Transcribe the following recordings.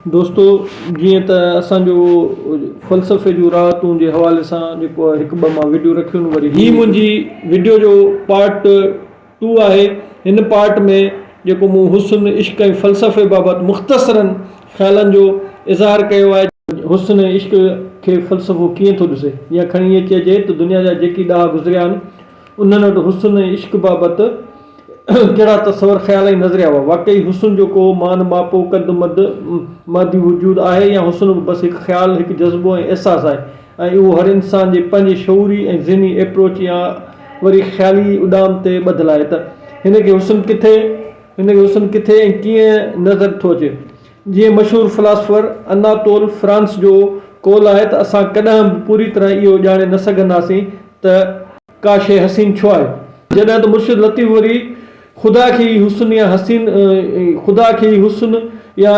دوستو جيئن ته اسان جو فلسفي جون راحتون جي حوالي سان جيڪو هڪ ٻه مان ويڊيو رکيون وري هي منهنجي ويڊيو جو پارٽ ٽو آهي هن پارٽ ۾ جيڪو مون حسن عشق ۽ فلسفي بابت مختصرن خيالن جو اظهار ڪيو آهي حسن ۽ عشق کي فلسفو ڪيئن ٿو ڏسي يا کڻي ائين چئجي ته دنيا جا جيڪي ڏاها گذريا آهن انهن وٽ حسن ۽ عشق بابت ڪهڙا تصور، خيال ۽ نظريا هئا؟ واقعي حسن جو ڪو مان ماپو، قد مد، مادي وجود آهي يا حسن به بس هڪ خيال، هڪ جذبو ۽ احساس آهي ۽ اهو هر انسان جي پنهنجي شعوري ۽ ذهني ايپروچ يا وري خيالي اڏام تي ٻڌل آهي ته هن کي حسن ڪٿي ۽ ڪيئن نظر ٿو اچي؟ جيئن مشهور فلاسفر اناطول فرانس جو قول آهي ته اسان ڪڏهن به پوري طرح اهو ڄاڻي نه سگهنداسين ته ڪا شيء حسين ڇو آهي. جڏهن ته مرشد لطيف وري خدا کي ئي حسن يا حسين خدا کي ئي حسن يا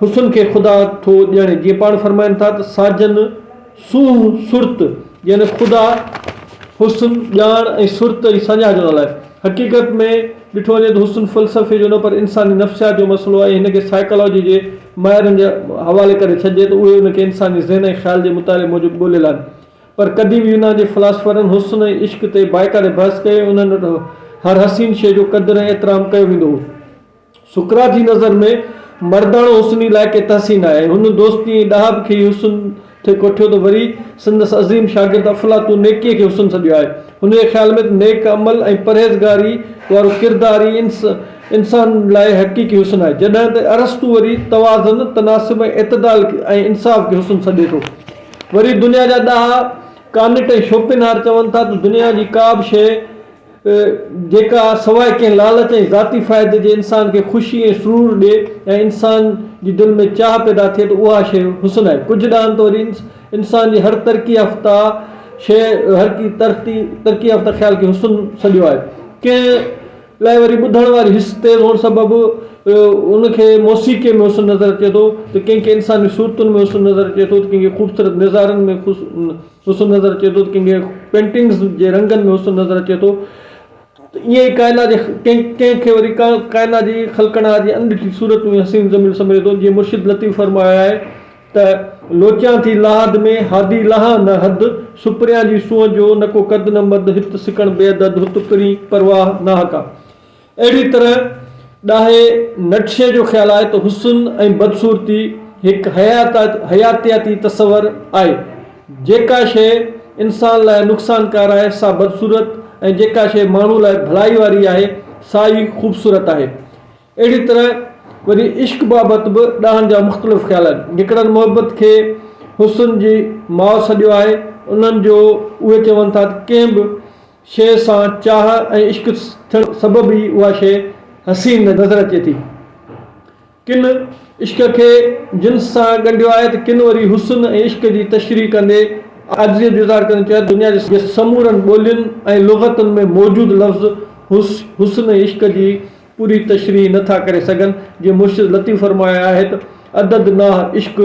حسن کي خدا ٿو ڄڻي جيئن پاڻ فرمائن ٿا ته ساجن، سونهن، سرت، يعني خدا، حسن، ڄاڻ ۽ سرت ۽ سڃاڻ جو نالو آهي. حقيقت ۾ ڏٺو وڃي ته حسن فلسفي جو نه پر انساني نفسيات جو مسئلو آهي ۽ هن کي سائيڪالاجي جي ماهرن جي حوالي ڪري ڇڏجي ته اهي ان کي انساني ذهن ۽ خيال جي مطالعي موجب ڳولهيل آهن پر قديم يونان جي فلاسفرن حسن ۽ عشق تي بائيڪاٽ بحث ڪئي ۽ انهن وٽ هر حسين شيء جو قدر ۽ احترام ڪيو ويندو هو. سقراط جي نظر ۾ مرداڻو حسن ئي لائق تحسين آهي. هن دوستي ۽ ڏاهپ کي ئي حسن ٿي ڪوٺيو ته وري سندس عظيم شاگرد افلاطون نيڪيء کي حسن سڏيو آهي. هن جي خيال ۾ ته نيڪ عمل ۽ پرهيزگاريء وارو ڪردار ئي انسان لاء حقيقي حسن آهي. جڏهن ته ارسطو وري توازن، تناسب ۽ اعتدال ۽ انصاف کي حسن سڏي ٿو. وري دنيا جا ڏاها ڪانٽ ۽ شوپنهار چون ٿا ته دنيا جي ڪابه شيء، ته جيڪا سواء ڪنهن لالچ ۽ ذاتي فائدي جي انسان کي خوشي ۽ سرور ڏئي ۽ انسان جي دل ۾ چاهه پيدا ٿئي ته اها شيء حسن آهي. ڪجهه ڏانهن ته وري انسان جي هر ترقي يافته شيء هر ترقي يافته خيال کي حسن سڏيو آهي. ڪنهن لاء وري ٻڌڻ واري حس تيز هئڻ سبب ان کي موسيقيء ۾ حسن نظر اچي ٿو ته ڪنهن کي انساني صورتن ۾ حسن نظر اچي ٿو ته ڪنهن کي خوبصورت نظارن ۾. حسن نظر اچي ٿو ته ڪنهن کي پينٽنگز جي رنگن ۾ حسن نظر اچي ٿو ته ائين ئي ڪائنات جي ڪنهن کي وري ڪائنات جي خلقنها جي اڻڏٺي صورت ۾ حسين جميل سمجهي ٿو جيئن مرشد لطيف فرمايو آهي ته لوچيان ٿي لاحد ۾ حادي لانهان نه حد سپريان جي سونهن جو نه ڪو قد نه مد هت سڪڻ بي عدد هت پرين پرواهه ناحقه اهڙي طرح ڏاهي نٽشي جو خيال آهي ته حسن ۽ بدصورتي هڪ حياتياتي تصور آهي، جيڪا شيء انسان لاء نقصانڪار آهي سا بدصورت ۽ جيڪا شيء ماڻهو لاء ڀلائي واري آهي سا ئي خوبصورت آهي. اهڙي طرح وري عشق بابت به ڏاهن جا مختلف خيال آهن. جيڪڏهن محبت کي حسن جي ماء سڏيو آهي، انهن جو اهي چون ٿا ته ڪنهن به شيء سان چاهه ۽ عشق ٿيڻ سبب ئي اها شيء حسين نظر اچي ٿي. ڪن عشق کي جنس سان ڳنڍيو آهي ته ڪن وري حسن ۽ عشق جي تشريح ڪندي عاجزيء جو اظهار ڪندي چيو آهي ته دنيا جي سمورن ٻولين ۽ لغتن ۾ موجود لفظ حسن ۽ عشق جي پوري تشريح نه ٿا ڪري سگهن جيئن مرشد لطيف فرمايو آهي ته عدد ناه عشق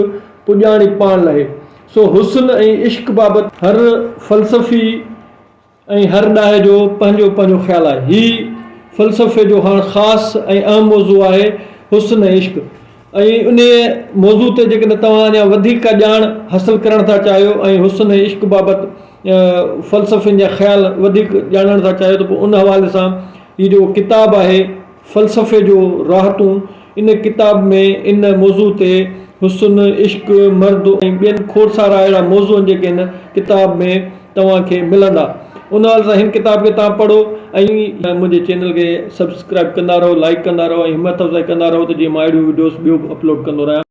پڄاڻي پاڻ لهي سو حسن ۽ عشق بابت هر فلسفي ۽ هر ڏاهي جو پنهنجو پنهنجو خيال آهي. هي فلسفي جو هاڻ خاص ۽ اهم موضوع آهي حسن ۽ عشق ۽ انهيء موضوع تي جيڪڏهن توهان اڃا وڌيڪ ڪا ڄاڻ حاصل ڪرڻ ٿا چاهيو ۽ حسن ۽ عشق بابت فلسفين جا خيال وڌيڪ ڄاڻڻ ٿا چاهيو ته پوء ان حوالي سان هي جيڪو ڪتاب آهي فلسفي جو راحتون ان ڪتاب ۾ ان موضوع تي حسن، عشق، مرد ۽ ٻين کوڙ سارا اهڙا موضوعن جيڪي هن ڪتاب ۾ توهان کي ملندا. ان حال سان هن ڪتاب کي توهان پڙهو ۽ منهنجي چينل کي سبسڪرائب ڪندا رهو، لائيڪ ڪندا رهو ۽ همت افزائي ڪندا رهو ته جيئن مان اهڙيون وڊيوز ٻيو به اپلوڊ ڪندو رهيان.